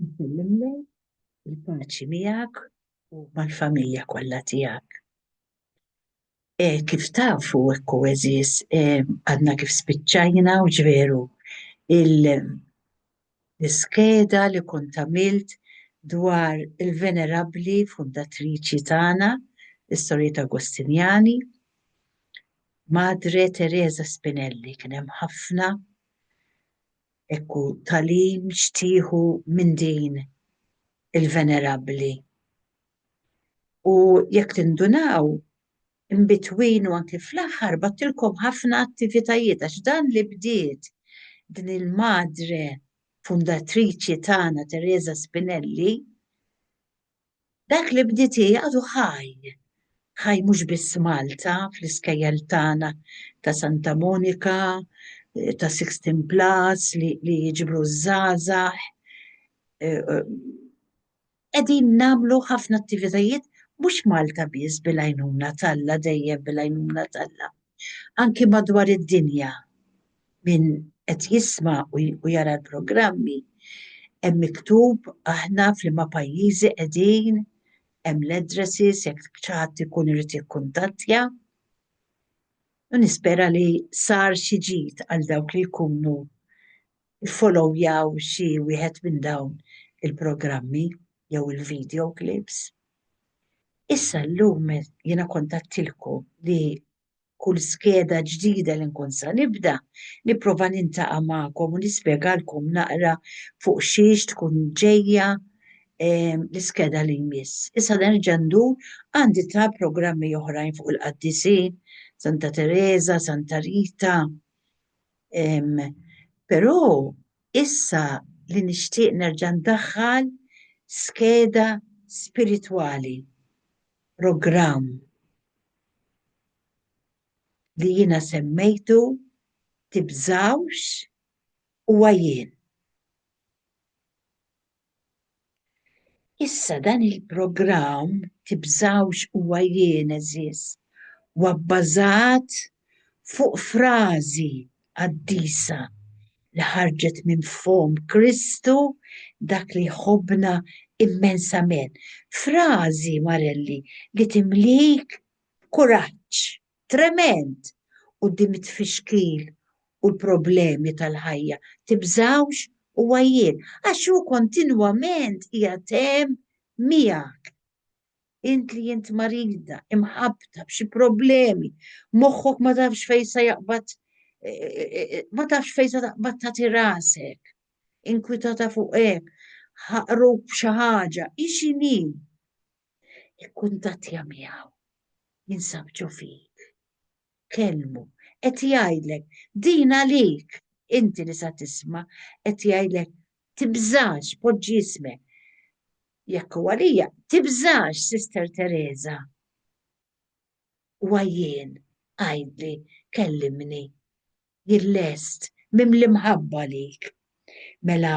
Nsellimlek, il-paċi miegħek u mal-familja kollha tiegħek. Kif tafu hekk hu għeżież, għadna kif spiċċajna u ġveru l-iskeda li kont għamilt dwar il-venerabbli fundatriċi tagħna, is-Sorijiet Agostinjani. Madre Teresa Spinelli kien hemm ħafna hekk hu tagħlim x'tieħu minn din il-venerabbli. U jekk tindunaw, inbitween u anki fl-aħħar bagħtilkom ħafna attivitajiet għax dan li bdiet din il-madre fundatriċi tagħna Teresa Spinelli Dak li bdiet hi għadu ħaj. Ħaj mhux biss f'Malta, fl-iskejjel tagħna ta' Santa Monika, ta' Sixteen Plus li jiġbru ż-żgħażagħ. Qegħdin nagħmlu ħafna attivitajiet mhux Malta biss bil-għajnuna t'Alla dejjem bil-għajnuna t'Alla. Anki madwar id-dinja min qed jisma' u jara l-programmi hemm miktub aħna f'liema pajjiżi qegħdin, hemm l-addresses jekk xi ħadd ikun irid jikkuntattja. U nispera li sar xi ġid għal dawk li jkunu ffolowjaw xi wieħed minn dawn il-programmi jew il-video clips. Issa llum jiena kont għedtilkom li kull skeda ġdida li nkun sa nibda, nipprova nintaqa' magħkom u nispjegalkom naqra fuq xiex tkun ġejja l-iskeda li jmiss. Issa nerġa' ndur għandi ta' programmi oħrajn fuq il-qaddisin, Santa Tereża, Santa Rita. Però issa li nixtieq nerġa' ndaħħal skeda spiritwali, programm li jiena semmejtu, tibżgħux, huwa jien. Issa dan il-programm, tibżgħux, huwa jien, għeżież, huwa bbażat fuq frażi qaddisa li ħarġet minn fomm Kristu dak li jħobbna immensament. Frażi, Marelli, li timlik b'kuraġġ tremend quddiem it-tfixkil u l-problemi tal-ħajja. Tibżgħux u għajjien, għax hu kontinwament qiegħed hemm miegħek. Int li int marida, imħabbta b'xi problemi, moħħok ma tafx fejn se jaqbad e, e, e, ma tafx fejn se taqbad tagħti rasek, inkwitata fuq hekk, ħaqruk b'xi ħaġa, ixini. Ikkuntattja miegħu, jinsab ġo fik. Kelmu, qed jgħidlek, din għalik, inti li sa tisma' qed jgħidlek tibżax poġġi ismek Jekk hu għalija, tibżax, Sister Teresa. Huwa jien, għidli, kellimni. Jien lest, mimli mħabba għalik. Mela,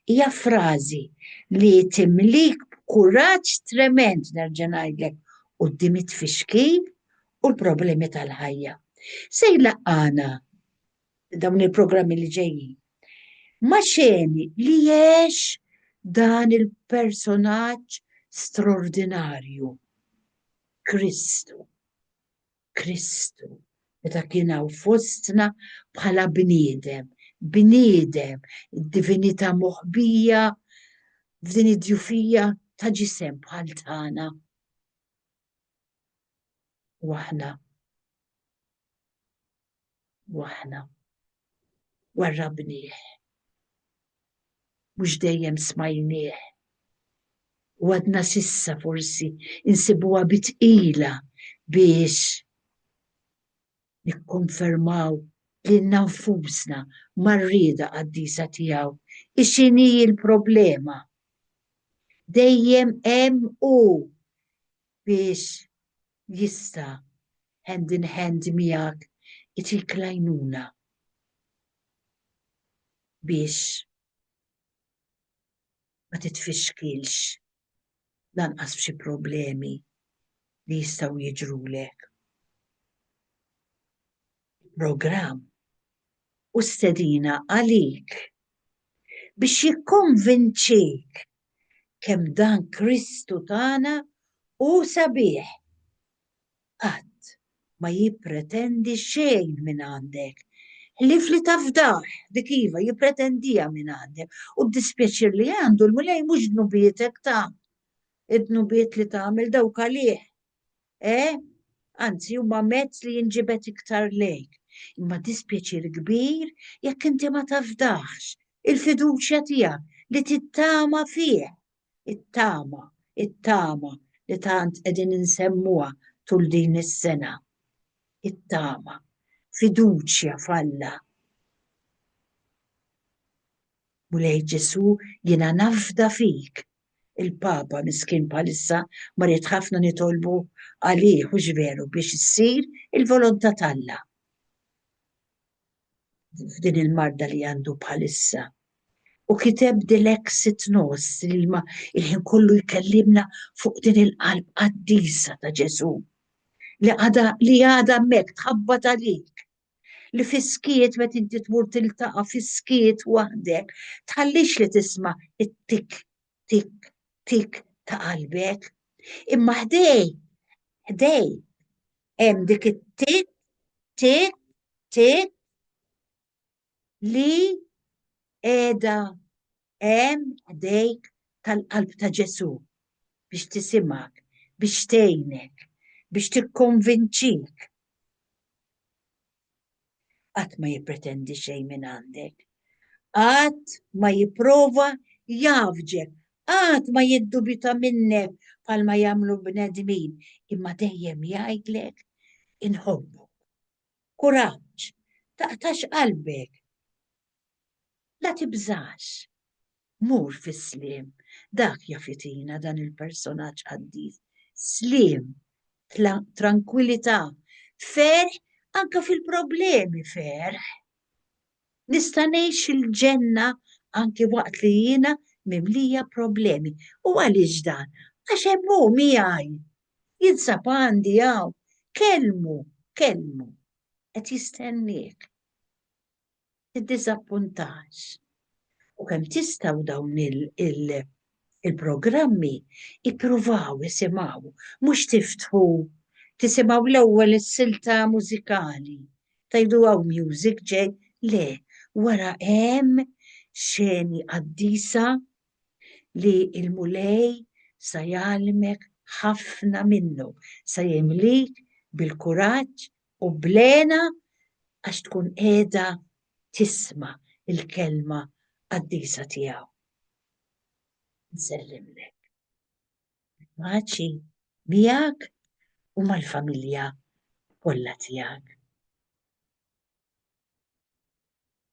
hija frażi li timlik b'kuraġġ tremend nerġa' ngħidlek quddiem it-tfixkil u l-problemi tal-ħajja. Se jlaqqana dawn il-programmi li ġejjin. Ma xeni li jiex dan il-personaġġ straordinarju. Kristu. Kristu. Meta kien hawn fostna bħala bniedem, bniedem, id-divinità moħbija f'din id-djufija ta' ġisem bħal tagħna. Waħna u aħna warrabnieh. Mhux dejjem smajnieh u għadna s'issa forsi insibuha bi tqila biex nikkonfermaw lilna nfusna mar-rieda qaddisa tiegħu. I x'inhi l-problema? Dejjem hemm hu biex jista' hand in hand miegħek itik l-għajnuna biex ma titfixkilx lanqas f'xi problemi li jistgħu jiġrulek. il-programm hu stedina għalik biex jikkonvinċik kemm dan Kristu tagħna hu sabiħ. Qatt ma jippretendi xejn mingħandek, ħlief li tafdah, dik iva, jippretendiha mingħandek, u d-dispjaċir li għandu l-Mulej mhux dnubietek ta, id-dnubiet li tagħmel dawk għalih. Eh, anzi huma mezz li jinġibed iktar lejk. Imma dispjaċir kbir jekk inti ma tafdaħx il-fiduċja tiegħek li tittama fih. It-tama, it-tama li tant qegħdin insemmuha tul din is-sena. It-tama, fiduċja f'Alla. Mulej Ġesù, jiena nafda fik, Il-Papa miskin bħalissa marid ħafna nitolbu għalih hux veru biex issir il-volontà t'Alla f'din il-marda li għandu bħalissa. U kiteb dilexit nos li ma il-ħin kollu jkellimna fuq din il-qalb qaddisa ta' Ġesu. Li għada li għada mek tħabba talik li fiskiet met inti tmur tiltaqa fiskiet waħdek, tħallix li tisma it-tik, tik, tik ta' qalbek. Imma ħdej, ħdej, hemm dik it-tik, tik, tik li edha Hemm jdejk tal-qalb ta' Ġesù biex tisimgħek, biex tgħinek, biex tikkonvinċik. Qatt ma jippretendi xejn mingħandek. Qatt ma jipprova jgħaffġek, qatt ma jiddubita minnek bħalma jagħmlu bnedmin, imma dejjem jgħidlek inħobbok. Kuraġġ, taqtax qalbek. La tibżax. Mur fis-sliem. Dak jaf jtina dan il-personaġġ qaddis. Sliem, trankwilità, ferħ anke fil-problemi ferħ. Nista' ngħix il-ġenna anke waqt li jiena mimlija problemi. U għaliex dan? Għax hemm hu miegħi. Jinsab għandi hawn. Kellmu, kellmu. Qed jistenniek. tiddiżappuntax. U kemm tistgħu dawn il-programmi ippruvaw isimgħu, mhux tiftħu tisimgħu l-ewwel is-silta mużikali. Tajdu hawn music ġej, le, wara hemm xeni qaddisa li l-Mulej sa jgħalmek ħafna minnu, sa jimlik bil-kuraġġ u bl-hena għax tkun qiegħda tisma' l-kelma qaddisa tiegħu. Nsellimlek. Il-paċi miegħek u mal-familja kollha tiegħek.